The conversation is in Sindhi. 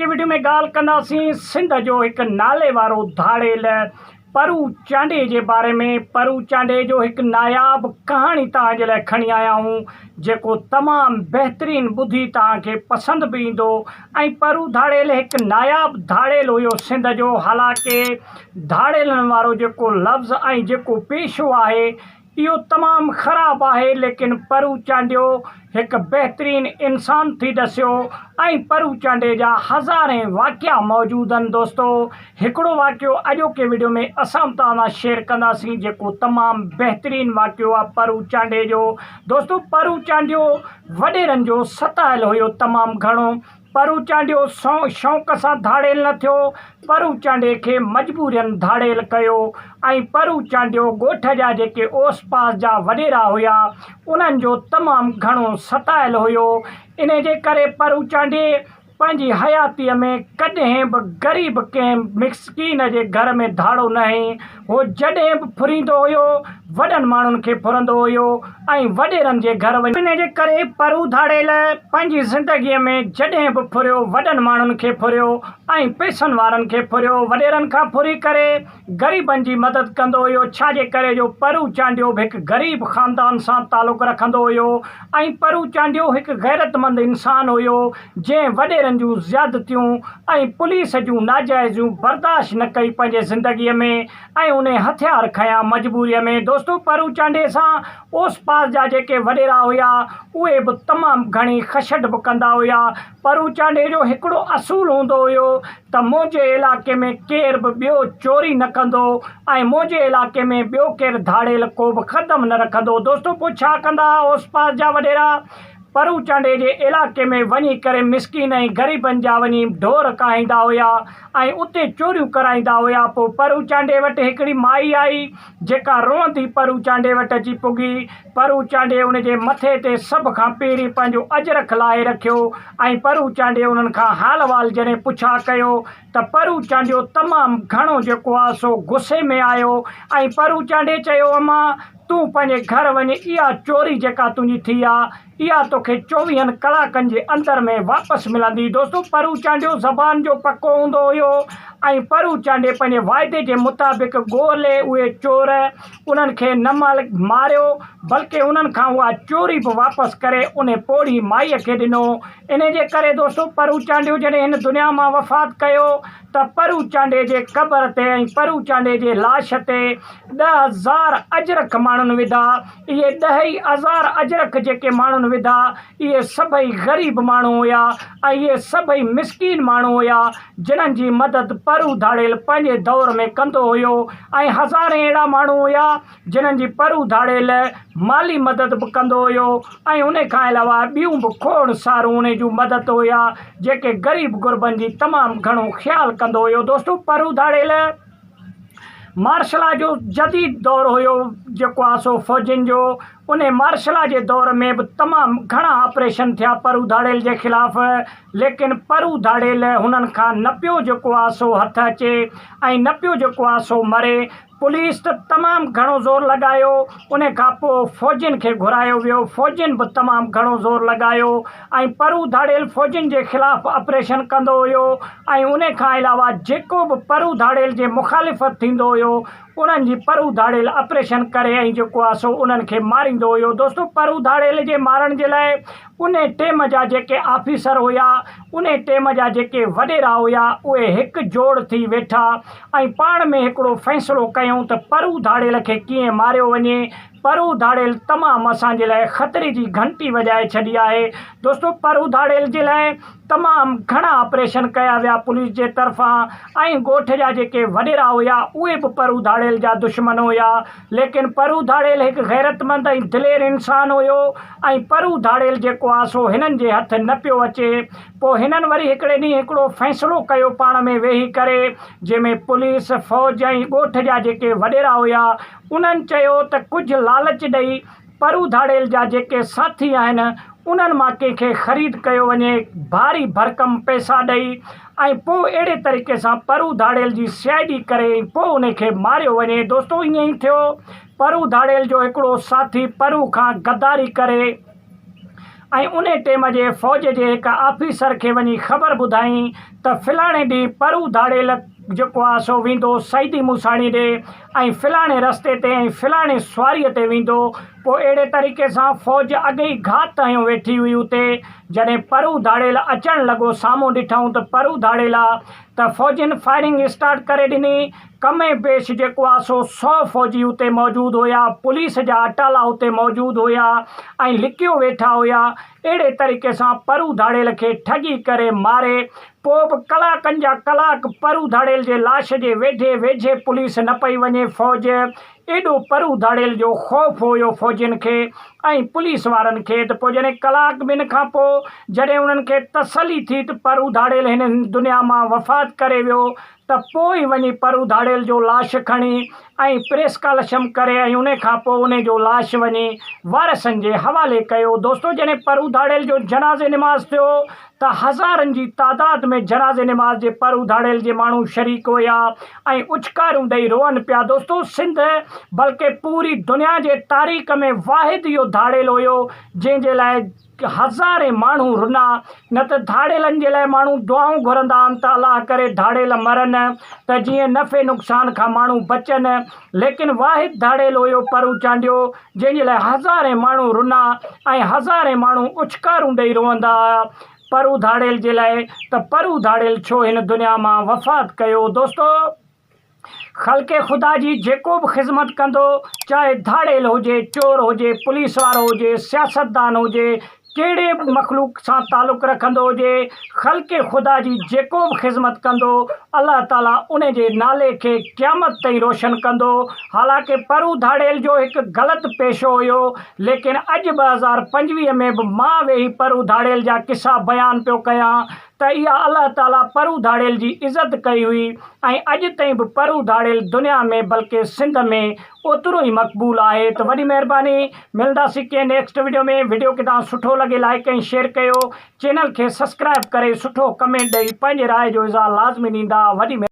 هن وڊيو ۾ ڳالهه ڪنداسين سنڌ جو هڪ ناليوارو ڌاڙيل پرو چانڊئي جي باري ۾ پرو چانڊئي جو هڪ ناياب ڪهاڻي توهان جي لاء کڻي آيا آهيون جيڪو تمام بهترين ٻڌي توهان کي پسند به ايندو ۽ پرو ڌاڙيل هڪ ناياب ڌاڙيل هيو سنڌ جو حالانڪه ڌاڙيلن وارو جيڪو لفظ ۽ جيڪو پيشو آهي اهو تمام خراب آهي ليڪن پرو چانڊيو هڪ بهترين انسان ٿي ڏسيو ۽ پرو چانڊي جا هزارين واقعا موجود ان دوستو هڪڙو واقعو اڄوڪي وڊيو ۾ اسان به توهان سان شيئر ڪنداسين جيڪو تمام بهترين واقعو آهي پرو چانڊي جو دوستو پرو چانڊيو وڏيرن جو ستايل هيو تمام گهڻو پرو چانڊيو سنئون شوق سان ڌاڙيل نه ٿيو، پرو چانڊي کي مجبورين ڌاڙيل ڪيو ۽ پرو چانڊيو ڳوٺ جا جيڪي اوس پاس جا وڏيرا هيا، انهن جو تمام گهڻو ستايل هيو، انهي جي ڪري پرو چانڊي پنهنجي حياتيء ۾ ڪڏهن به غريب ڪنهن مسڪين جي گهر ۾ ڌاڙو ناهي. هو جڏهن به ڦريندو هيو، وڏن ماڻهن کي ڦرندو هيو ۽ وڏيرن جي گهر وڃي. ان جي ڪري پرو ڌاڙيل پنهنجي زندگيء ۾ جڏهن به ڦريو، وڏن ماڻهن کي ڦريو ۽ پئسن وارن کي ڦريو، وڏيرن کان ڦري ڪري غريبن جي مدد ڪندو هيو، ڇا جي ڪري جو پرو چانڊيو به هڪ غريب خاندان سان تعلق رکندو هيو ۽ پرو چانڊيو هڪ غيرتمند انسان هيو، جنهن وڏيرن جون زيادتيون ۽ پوليس جون ناجائزيون برداشت نه ڪئي پنهنجي زندگي ۾ ۽ انهي هٿيار کنيا مجبوري ۾ دوستو پرو چانڊيي سان اوس پاس جا جيڪي وڏيرا هيا اهي به تمام گهڻي خشڊ به ڪندا هيا پرو چانڊيي جو هڪڙو اصول هوندو هيو ته منهنجي علائقي ۾ ڪير به ٻيو چوري نه ڪندو ۽ منهنجي علائقي ۾ ٻيو ڪير ڌاڙيل ڪوبه قدم نه رکندو دوستو پوء ڇا ڪندا هئا اوس پاس جا وڏيرا پروچنڊي جي علائقي ۾ وڃي ڪري مسڪين ۽ غريبن جا وڃي ڍور ڪاهيندا هيا ۽ اتي چوريون ڪرائيندا هيا پوء پروچنڊي وٽ هڪڙي مائي آئي جيڪا روئندي پروچنڊي وٽ اچي پڳي پروچنڊي ان جي مٿي تي سڀ کان پهرين پنهنجو اجرڪ لاهي رکيو ۽ پروچنڊي انهن کان حال احوال جڏهن پڇا ڪيو ته پروچنڊيو تمام گهڻو جيڪو آهي سو غصي ۾ آيو ۽ پروچنڊي چيو امان تون پنهنجي گهر وڃ، اها چوري جيڪا تنهنجي ٿي آ، اها توکي چوويهن ڪلاڪن جي اندر ۾ واپس ملندي. دوستو پرو چانڊيو زبان جو پڪو هوندو هيو ۽ پرو چانڊي پنهنجي واعدي جي مطابق ڳولهي اهي چور انهن کي نه مالڪ ماريو بلڪه انهن کان اها چوري به واپس ڪري انهي پوڙهي مائي کي ڏنو. انهي جي ڪري دوستو پرو چانڊيو جڏهن هن دنيا مان وفات ڪيو ته پرو چانڊيي جي قبر تي ۽ پرو چانڊيي جي لاش تي ڏهه هزار اجرڪ ماڻهن وڌا. اهي ڏهه ئي هزار اجرڪ جيڪي ماڻهن وڌا، اهي سڀئي غريب ماڻهو هيا ۽ اهي سڀئي مسڪين ماڻهو هيا، جنهن جي مدد پرو ڌاڙيل پنهنجي دور ۾ ڪندو هيو ۽ هزارين اهڙا ماڻهو هيا، جنھن جي پر اڌاڙي لئه مالي مدد به ڪندو ھيو ۽ انھي کان علاوه ٻيون به کوڙ سارون انھي جون مدد ھيا جيڪي غريب غربن جي تمام گھڻو خيال ڪندو ھيو دوستو پر اڌاڙي لئه مارشلا جو جديد دور ھيو جيڪو آ سو فوجين جو انھي مارشلا جي دور ۾ به تمام گھڻا آپريشن ٿيا پر اڌاڙيل جي خلاف ليڪن پر اڌاڙي لئه ھنن کان نه پيو جيڪو آ سو ھٿ اچي ۽ نه پيو جيڪو آ سو مري پوليس ته تمام گهڻو زور لڳايو ان کان پوء فوجين کي گهرايو ويو فوجين به تمام گهڻو زور لڳايو ۽ پرو ڌاڙيل فوجين جي خلاف اپريشن ڪندو هيو ۽ ان کان علاوه جيڪو به پرو ڌاڙيل جي مخالفت ٿيندو هيو انهن جي پرو ڌاڙيل اپريشن ڪري ۽ جيڪو آهي سو انهن کي ماريندو هيو دوستو پرو ڌاڙيل جي مارڻ جي لاء انهي ٽيم جا جيڪي آفيسر هيا، انهي ٽيم جا جيڪي وڏيرا هيا، اهي هڪ جوڙ ٿي ويٺا ۽ پاڻ ۾ هڪڙو فيصلو ڪيائون ته پرو ڌاڙيل کي ڪيئن ماريو وڃي. پرو ڌاڙيل تمام اسان جي لاء خطري جي گهنٽي وڄائي ڇڏي آهي. دوستو پرو ڌاڙيل جي لاء تمام گهڻا آپريشن ڪيا ويا پوليس جي طرفان ۽ ڳوٺ جا جيڪي وڏيرا هيا اهي به پرو ڌاڙيل جا دشمن هيا ليڪن پرو ڌاڙيل هڪ غيرتمند ۽ دلير انسان هيو ۽ پرو ڌاڙيل جيڪو آ سو هنن جي هٿ نه پيو اچي پوء هنن وري هڪڙي ڏينهن هڪڙو فيصلو ڪيو پاڻ ۾ ويهي ڪري جنهن ۾ پوليس فوج ۽ ڳوٺ جا جيڪي وڏيرا هيا انهن چيو ته ڪجهه لالچ ڏئي پر اڌاڙيل جا جيڪي ساٿي آهن انهن مان ڪنهن کي خريد ڪيو وڃي ڀاري ڀرڪم پئسا ڏئي ۽ پوء اهڙي طريقي سان پر اڌاڙيل جي سي آء ڊي ڪري ۽ پوء انهي کي ماريو وڃي دوستو ائين ئي ٿيو پر اڌاڙيل جو هڪڙو ساٿي پرو کان غداري ڪري ۽ انهي ٽيم جي فوج جي هڪ آفيسر کي وڃي خبر ٻڌائين ته فلاڻي ڏينهن پر اڌاڙيل جيڪو آهي سو ويندو سعيدي موساڻي ڏي ۽ فلاڻي رستي تي ۽ فلاڻي سواريء تي ويندو. پوء اهڙي طريقي سان فوج اڳ ئي گهات هنيو ويٺي هئي اتي. جڏهن پرو ڌاڙيل اچڻ لڳو سامهون ڏٺائون ته پرو ڌاڙيل آ ته فوجين فائرنگ اسٽارٽ ڪري ڏني. ڪم ۽ بيش جيڪو آ سو سؤ فوجي اتي موجود هيا. پوليس جا اٽالا اتي موجود هيا ۽ لڪيو ويٺا هيا. اهڙي طريقي سان پرو ڌاڙيل کي ٺڳي ڪري ماري پوء به ڪلاڪن جا ڪلاڪ پرو ڌاڙيل جي لاش جي ويڍي ويجهي پوليس نه پئي وڃي فوج ايڏو پرو ڌاڙيل جو خوف هيو فوجين کي ۽ پوليس وارن کي ته پوء جڏهن ڪلاڪ ٻن کان پوء جڏهن انهن کي تسلي ٿي ته پرو ڌاڙيل هن دنيا مان وفات ڪري ويو ته پوء وڃي پرو ڌاڙيل جو لاش کڻي ۽ پريس ڪالشم ڪري ۽ انهي کان پوء انهي جو لاش وڃي وارثن جي حوالي ڪيو. دوستو جڏهن پرو ڌاڙيل جو جنازي نماز ٿيو ته هزارن جي تعداد ۾ جنازي نماز جي پرو ڌاڙيل جي ماڻهو شريڪ هيا ۽ اڇڪاريون ڏئي روئن پيا دوستو سنڌ بلڪه پوري دنيا جي تاريخ ۾ واحد اهو ڌاڙيل هيو جنهن جي لاء هزارين ماڻهو رنا، نه ته ڌاڙيلن جي لاء ماڻهو دعائون گهرندا آهن ته الله ڪري ڌاڙيل مرن ته جيئن نفعي نقصان کان ماڻهو بچن، ليڪن واحد ڌاڙيل هيو پرو چانڊيو، جنهن جي لاء هزارين ماڻهو رنا ۽ هزارين ماڻهو اڇڪارون ڏئي روئندا هيا پرو ڌاڙيل جي لاء ته پرو ڌاڙيل ڇو هن دنيا مان وفات ڪيو. دوستو! خلق خدا جي جيڪو به خذمت ڪندو چاهي ڌاڙيل هجي، چور هجي، پوليس وارو هجي، سياستدان هجي، ڪهڙي به مخلوق سان تعلق رکندو هجي، خلق خدا جي جيڪو به خذمت ڪندو الله تعالي ان جي نالي کي قيامت تائين روشن ڪندو، حالانڪه پرون ڌاڙيل جو هڪ غلط پيشو هيو ليڪن اڄ ٻه هزار پنجويهه ۾ به مان ويهي پرون ڌاڙيل جا قصا بيان پيو ڪيان ته اها الله تعاليٰ پرو ڌاڙيل جي عزت ڪئي هئي ۽ اڄ تائين به پرو ڌاڙيل دنيا ۾ بلڪه سنڌ ۾ اوترو ئي مقبول آهي ته وڏي مهرباني ملنداسين ڪنهن نيڪسٽ وڊيو ۾ وڊيو ڪٿان سٺو لڳي لائيڪ ۽ شيئر ڪيو چينل کي سسڪرائب ڪري سٺو ڪمينٽ ڏئي پنهنجي راء جو اظهار لازمي ڏيندا وڏي